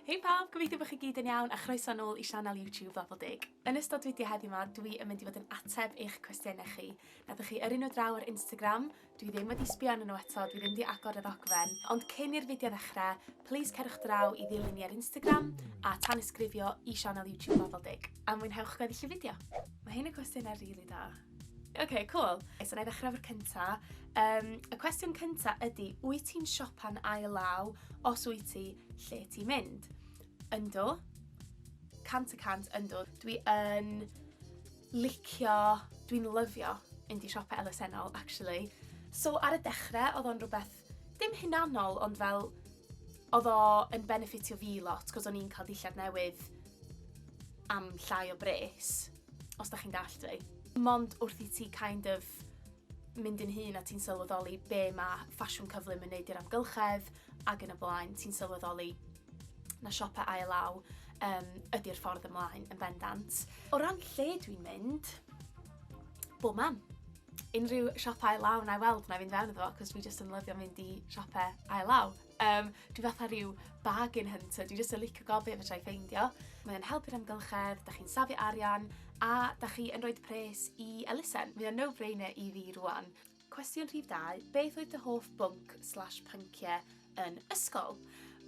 Hei pawb, gobeithio bod chi gyd yn iawn a chroeso nôl i sianel YouTube Ddafl Deg. Yn ystod fideo heddiw ma dwi yn mynd i fod yn ateb eich cwestiynau chi. Nathoch chi yrru nhw draw ar Instagram, dwi ddim wedi sbio arnyn nhw eto, dwi ddim wedi agor y ddogfen, ond cyn i'r fideo ddechre, plis cerwch draw i ddilyn ni ar Instagram a tanysgrifio i sianel YouTube Ddafl Deg. A mwynhewch gweddill y fideo! Mae hyn yn gwestiynau rili da. Ok, cool. So na i ddechrau efo'r cynta. Um, y cwestiwn cynta ydy, wyt ti'n siopa'n ail law? Os wyt ti, lle ti'n mynd? Ynddo. Cant y cant ynddo. Dwi yn licio, dwi'n lyfio mynd i siopau elusennol, actually. So ar y dechrau, oedd o'n rhywbeth dim hunanol, ond fel, oedd o yn benefitio fi lot, cos o'n i'n cael dillad newydd am llai o bres, os da chi'n dall fi. Mond wrth i ti kind of mynd yn hun a ti'n sylweddoli be mae ffasiwn cyflym yn neud i'r amgylchedd ac yn y blaen, ti'n sylweddoli na siopau ail-law um, ydy'r ffordd ymlaen yn bendant. O ran lle dwi'n mynd, bob man. unrhyw siop ail law na i weld na i fynd fewn iddo fo cos fi jyst yn lyfio mynd i siope ail law. Um, dwi fatha rhyw bargain hunter, dwi jyst yn licio gof beth fedra i ffeindio. Mae'n helpu'r amgylchedd, da chi'n safi arian a da chi yn rhoi pres i elusen. Mae'n no-brainer i fi rwan. Cwestiwn rhif dau, beth oedd dy hoff bwnc slash pynciau yn ysgol?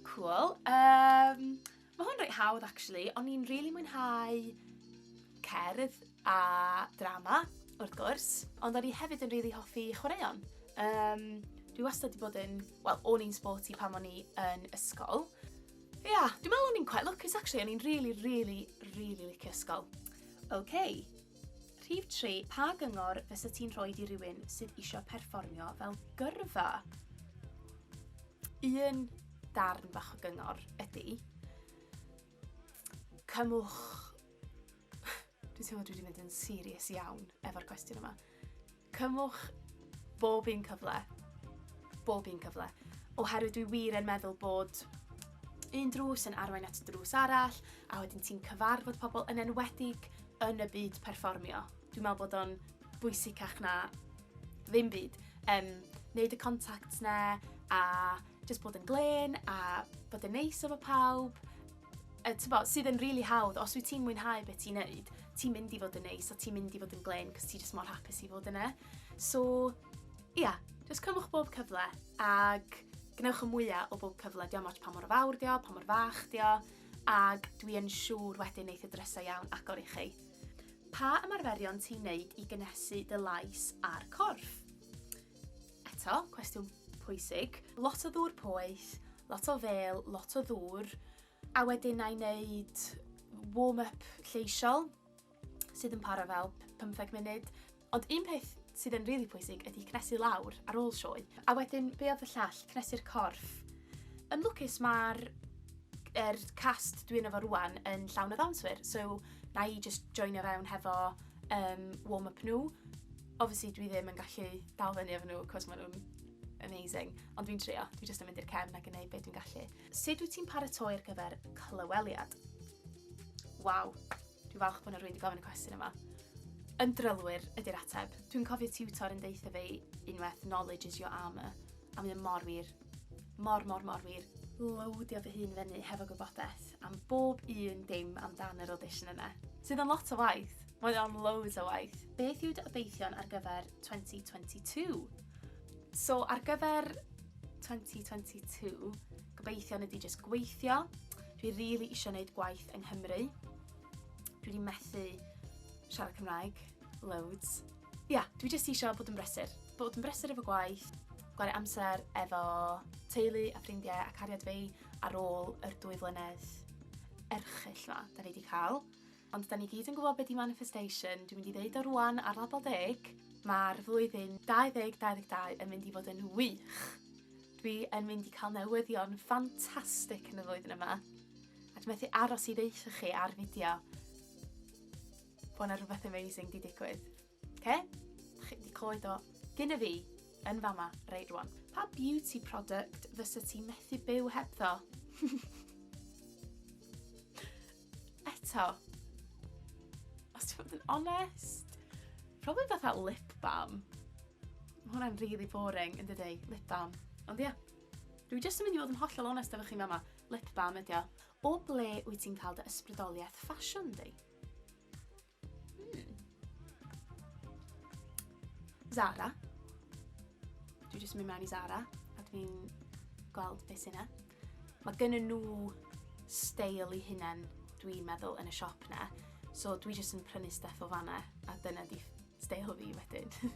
Cool. Um, Ma' hwn reit hawdd actually o'n i'n rili mwynhau cerdd a drama wrth gwrs ond o'n i hefyd yn rili hoffi chwaraeon. Yym dwi wastad 'di bod yn wel o'n i'n sporty pan o'n i yn ysgol. Ie yeah, dwi me'wl o'n i'n quite lwcus actually o'n i'n rili rili rili licio ysgol. Ok. Rhif tri, pa gyngor fysa ti'n rhoi i rywun sydd eisiau perfformio fel gyrfa? Un darn bach o gyngor ydy, cymwch... Dwi'n teimlo dwi wedi mynd yn serious iawn efo'r cwestiwn yma. Cymwch bob un cyfle. Bob un cyfle. Oherwydd dwi wir yn meddwl bod un drws yn arwain at drws arall, a wedyn ti'n cyfarfod pobl yn enwedig yn y byd perfformio. Dwi'n meddwl bod o'n bwysicach na ddim byd. Um, neud y contact na a just bod yn glen a bod yn neis efo pawb yy t'bo, sydd yn rili hawdd, os wyt ti'n mwynhau beth ti'n neud, ti'n mynd i fod yn neis a ti'n mynd i fod yn glên cos ti jyst mor hapus i fod yna. So, ia, yeah, jyst cymwch bob cyfle ag gwnewch y mwyaf o bob cyfle, diolch ots pa mor fawr dio, pa mor fach dio, ag dwi yn siŵr wedyn neith y drysau iawn agor i chi. Pa ymarferion ti'n neud i gynesu dy lais a'r corff? Eto, cwestiwn pwysig. Lot o ddŵr poeth, lot o fel, lot o ddŵr, a wedyn na i wneud warm-up lleisiol sydd yn para fel 15 munud. Ond un peth sydd yn rili really pwysig ydy cnesu lawr ar ôl sioe. A wedyn, be oedd y llall? Cnesu'r corff. Yn lwcus mae'r er cast dwi'n efo rwan yn llawn o ddawnswyr, so na i just joinio fewn hefo um, warm-up nhw. Obviously dwi ddim yn gallu dal fyny efo nhw cos maen nhw'n amazing, ond dwi'n trio, dwi jyst yn mynd i'r cefn ac yn gwneud beth dwi'n gallu. Sut wyt ti'n paratoi ar gyfer clyweliad? Waw, dwi'n falch bod nhw'n rwy'n wedi gofyn y cwestiwn yma. Yn drylwyr ydy'r ateb. Dwi'n cofio tutor yn deitha fi unwaith knowledge is your armour, a mae'n mor wir. Mor, mor, mor wir. Lowdio fy hun fyny hefo gwybodaeth am bob un dim amdan yr audition yna. Sydd yn lot o waith. Mae o'n loads o waith. Beth yw dy obeithion ar gyfer 2022? So, ar gyfer 2022, gobeithion ydy jyst gweithio. Dwi rili really eisiau gwneud gwaith yng Nghymru. Dwi wedi methu siarad Cymraeg, loads. Ia, dwi jyst isio bod yn brysur. Bod yn brysur efo gwaith, gwario amser efo teulu a ffrindiau a cariad fi ar ôl yr dwy flynedd erchyll ma da ni wedi cael. Ond da ni gyd yn gwybod beth di manifestation, dwi'n mynd i ddeud o rwan ar label deg, mae'r flwyddyn 2022 yn mynd i fod yn wych. Dwi yn mynd i cael newyddion ffantastig yn y flwyddyn yma. A dwi'n methu aros i ddeitha chi ar fideo Bod 'na rhywbeth amazing 'di digwydd. Oce? Dach chi 'di clywed o gynna fi yn fama reit rwan. Pa beauty product fysa ti methu byw hebddo? Eto, os ti'n bod yn onest, probably fatha lip balm. Mae hwnna'n really boring yn dydy, lip balm. Ond ia, dwi jyst yn mynd i fod yn hollol onest efo chi fama, lip balm ydi o. O ble wyt ti'n cael dy ysbrydoliaeth ffasiwn di? Zara. Dwi jyst mynd mewn i Zara a dwi'n gweld beth sy'n yna. Mae gen nhw steil i hunain dwi'n meddwl yn y siop na. So dwi jyst yn prynu stuff o fanna a dyna di steil fi wedyn.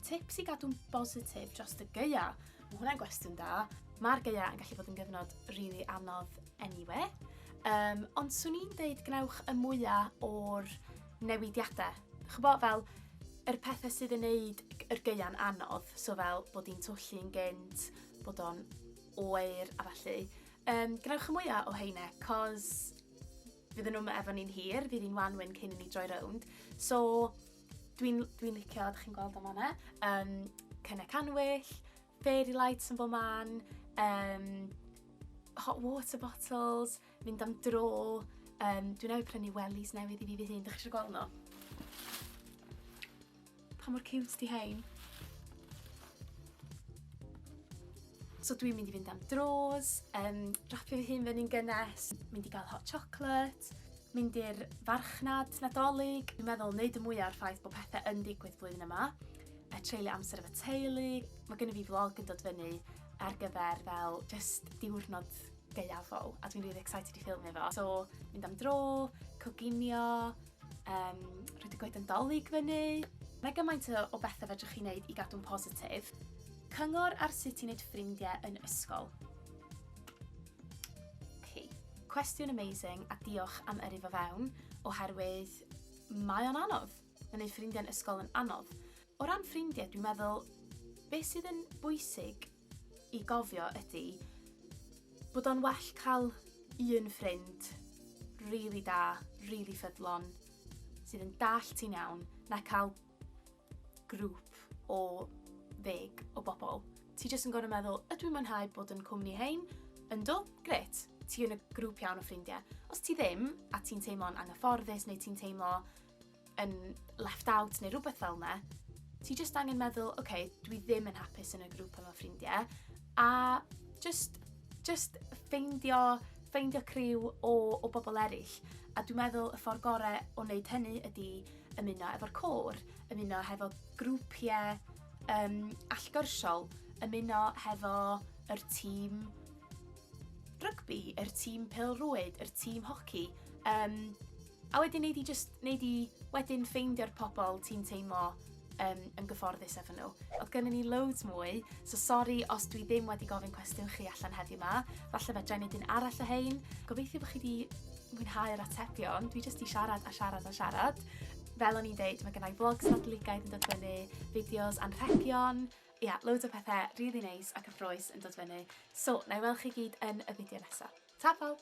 Tips i gadw'n bositif dros y geia. Mae hwnna'n gwestiwn da. Mae'r geia yn gallu bod yn gyfnod rili really anodd anyway. Um, ond swn i'n deud gwnewch y mwyaf o'r newidiadau. Chybo fel yr pethau sydd yn neud yr geia'n anodd, so fel bod hi'n twyllu'n gynt, bod o'n oer a falle. Um, gwnewch y mwyaf o heine, cos fydden nhw'm efo ni'n hir, fydd hi'n wanwyn cyn i ni droi rownd. So, dwi'n dwi licio, ydych chi'n gweld am hwnna, um, cynnau canwyll, fairy lights yn bod man, um, hot water bottles, mynd am dro, um, dwi'n ei prynu wellies newydd i fi fy hun, ydych chi'n gweld nhw? Pa mor ciwt 'di rhein? So dwi'n mynd i fynd am dros, um, rapio fy hun fyny'n gynnes, mynd i gael hot chocolate, mynd i'r farchnad nadolig. Dwi'n meddwl wneud y mwyaf o'r ffaith bod pethau yn digwydd flwyddyn yma, a treulio amser efo teulu. Mae gen i fi vlog yn dod fyny ar gyfer fel just diwrnod gaeafol, a dwi'n really excited i ffilmio fo. So, mynd am dro, coginio, Um, rhaid y gwaith yn dolyg fyny. Mae gymaint o bethau fedrwch chi wneud i gadw'n positif. Cyngor ar sut i wneud ffrindiau yn ysgol. Okay. Cwestiwn amazing a diolch am yrru fo fewn, oherwydd mae o'n anodd. Mae wneud ffrindiau'n ysgol yn anodd. O ran ffrindiau, dwi'n meddwl, beth sydd yn bwysig i gofio ydi bod o'n well cael un ffrind really da, really ffyddlon, sydd yn dall ti'n iawn, na cael grŵp o ddeg o bobl. Ti jyst yn gorau meddwl, ydw i'n mwynhau bod yn cwmni hein? Yndw, gret, ti yn y grŵp iawn o ffrindiau. Os ti ddim, a ti'n teimlo'n anghyfforddus neu ti'n teimlo yn left out neu rhywbeth fel yna, ti just angen meddwl, oce, okay, dwi ddim yn hapus yn y grŵp yma ffrindiau, a just, just ffeindio, ffeindio criw o, o bobl eraill. A dwi'n meddwl y ffordd gorau o wneud hynny ydy ymuno efo'r côr, ymuno hefo grwpiau um, allgyrsiol, ymuno hefo yr tîm rygbi, yr tîm pel-rwyd, yr tîm hoci. Um, A wedyn nei di jyst, nei di wedyn ffeindio'r pobl ti'n teimlo um, yn gyfforddus efo nhw. Oedd gennym ni loads mwy, so sori os dwi ddim wedi gofyn cwestiwn chi allan heddiw ma. Falle fe drenid un arall o hein. Gobeithio bod chi wedi mwynhau'r atebion. Dwi jyst i siarad a siarad a siarad. Fel o'n i'n deud, mae gennau vlogs nadligaid yn dod fyny, fideos anrhegion, ia, yeah, loads o pethau rili really neis nice a cyffroes yn dod fyny. So, na i weld chi gyd yn y fideo nesaf. Ta pawb!